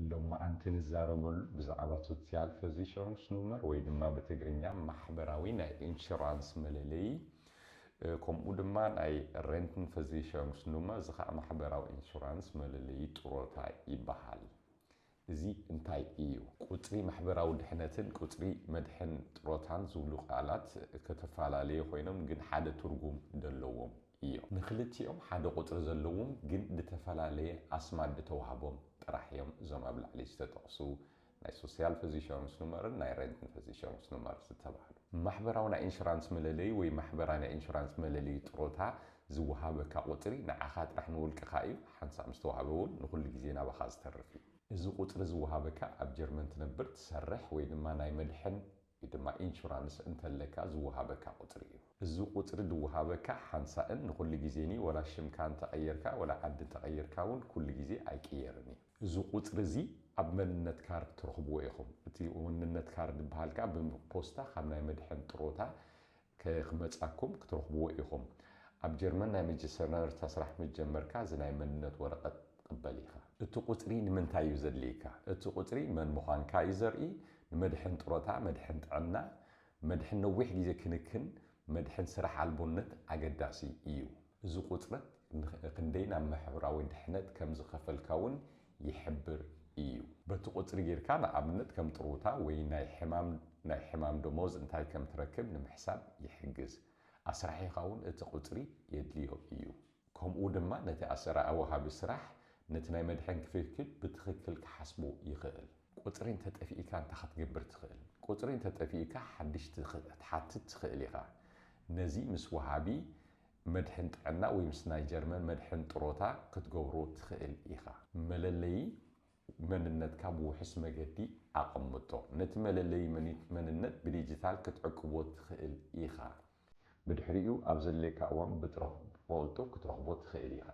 ሎማዓንቲ ንዛረበሉ ብዛዕባ ሶሲያል ፈዚሸንስ ኑመር ወይ ድማ ብትግርኛ ማሕበራዊ ናይ እንሹራንስ መለለዪ ከምኡ ድማ ናይ ረንትን ፈዚሸንስ ኑመር እዚ ኸዓ ማሕበራዊ እንሹራንስ መለለዪ ጥሮታ ይበሃል። እዚ እንታይ እዩ? ቁጽሪ ማሕበራዊ ድሕነትን ቁጽሪ መድሕን ጥሮታን ዝብሉ ቃላት ከተፋላለዮ ኮይኖም ግን ሓደ ትርጉም ደለዎም እዮም። ንክልቲኦም ሓደ ቁጽሪ ዘለዎም ግን ድተፈላለየ ኣስማት ድተዋህቦም ጥራሕ እዮም እዞም ኣብ ላዕሊ ዝተጠቕሱ ናይ ሶሲያልፈዚሸሩንስኑመርን ናይ ረንተንፈዚሸሩንስኑመር ዝተባህሉ። ማሕበራዊ ናይ ኢንሹራንስ መለለዪ ወይ ማሕበራዊ ናይ ኢንሹራንስ መለለዪ ጥሮታ ዝወሃበካ ቁጽሪ ንዓኻ ጥራሕ ንውልቅኻ እዩ፣ ሓንሳእ ምስ ተዋህበ እውን ንኹሉ ግዜ ናባኻ ዝተርፍ እዩ። እዚ ቁጽሪ ዝወሃበካ ኣብ ጀርመን ትነብር፣ ትሰርሕ ወይ ድማ ናይ መድሕን ወይ ድማ ኢንሹራንስ እንተለካ ዝወሃበካ ቁጽሪ እዩ። እዚ ቁጽሪ ዝወሃበካ ሓንሳእን ንኹሉ ግዜን እዩ፣ ዋላ ሽምካ እንተቐየርካ ዋላ ዓዲ እንተቐየርካ እውን ኩሉ ግዜ ኣይቅየርን እዩ። እዚ ቁጽሪ እዚ ኣብ መንነት ካርድ ትረኽብዎ ኢኹም። እቲ መንነት ካርድ ዝበሃል ከኣ ብፖስታ ካብ ናይ መድሕን ጥሮታ ክመጻኩም ክትረኽብዎ ኢኹም። ኣብ ጀርመን ናይ መጀሰርነርታ ስራሕ ምስ ጀመርካ እዚ ናይ መንነት ወረቐት ክትቕበል ኢኻ። እቲ ቁጽሪ ንምንታይ እዩ ዘድልየካ? እቲ ቁጽሪ መን ምዃንካ እዩ ዘርኢ፣ ንመድሕን ጥሮታ፣ መድሕን ጥዕና፣ መድሕን ነዊሕ ግዜ ክንክን፣ መድሕን ስራሕ ኣልቦነት ኣገዳሲ እዩ። እዚ ቁጽረት ክንደይ ናብ ማሕበራዊ ድሕነት ከም ዝኸፈልካ እውን ይሕብር እዩ። በቲ ቁጽሪ ጌርካ ንኣብነት ከም ጥሩታ ወይ ናይ ሕማም ናይ ሕማም ደሞዝ እንታይ ከም ትረክብ ንምሕሳብ ይሕግዝ። ኣስራሒኻ እውን እቲ ቁጽሪ የድልዮ እዩ። ከምኡ ድማ ነቲ ኣሰራኢ ወሃቢ ስራሕ ነቲ ናይ መድሕን ክፍፍል ብትኽክል ክሓስቦ ይኽእል። ቁጽሪ እንተ ጠፊኢካ እንታይ ክትገብር ትኽእል? ቁጽሪ እንተ ጠፊኢካ ሓድሽ ክትሓትት ትኽእል ኢኻ። ነዚ ምስ ወሃቢ መድሕን ጥዕና ወይ ምስ ናይ ጀርመን መድሕን ጥሮታ ክትገብሮ ትኽእል ኢኻ። መለለዪ መንነትካ ብውሑስ መገዲ ኣቐምጦ። ነቲ መለለዪ መንነት ብዲጂታል ክትዕቅቦ ትኽእል ኢኻ። ብድሕሪኡ ኣብ ዘድልየካ እዋን ብቕልጡፍ ክትረኽቦ ትኽእል ኢኻ።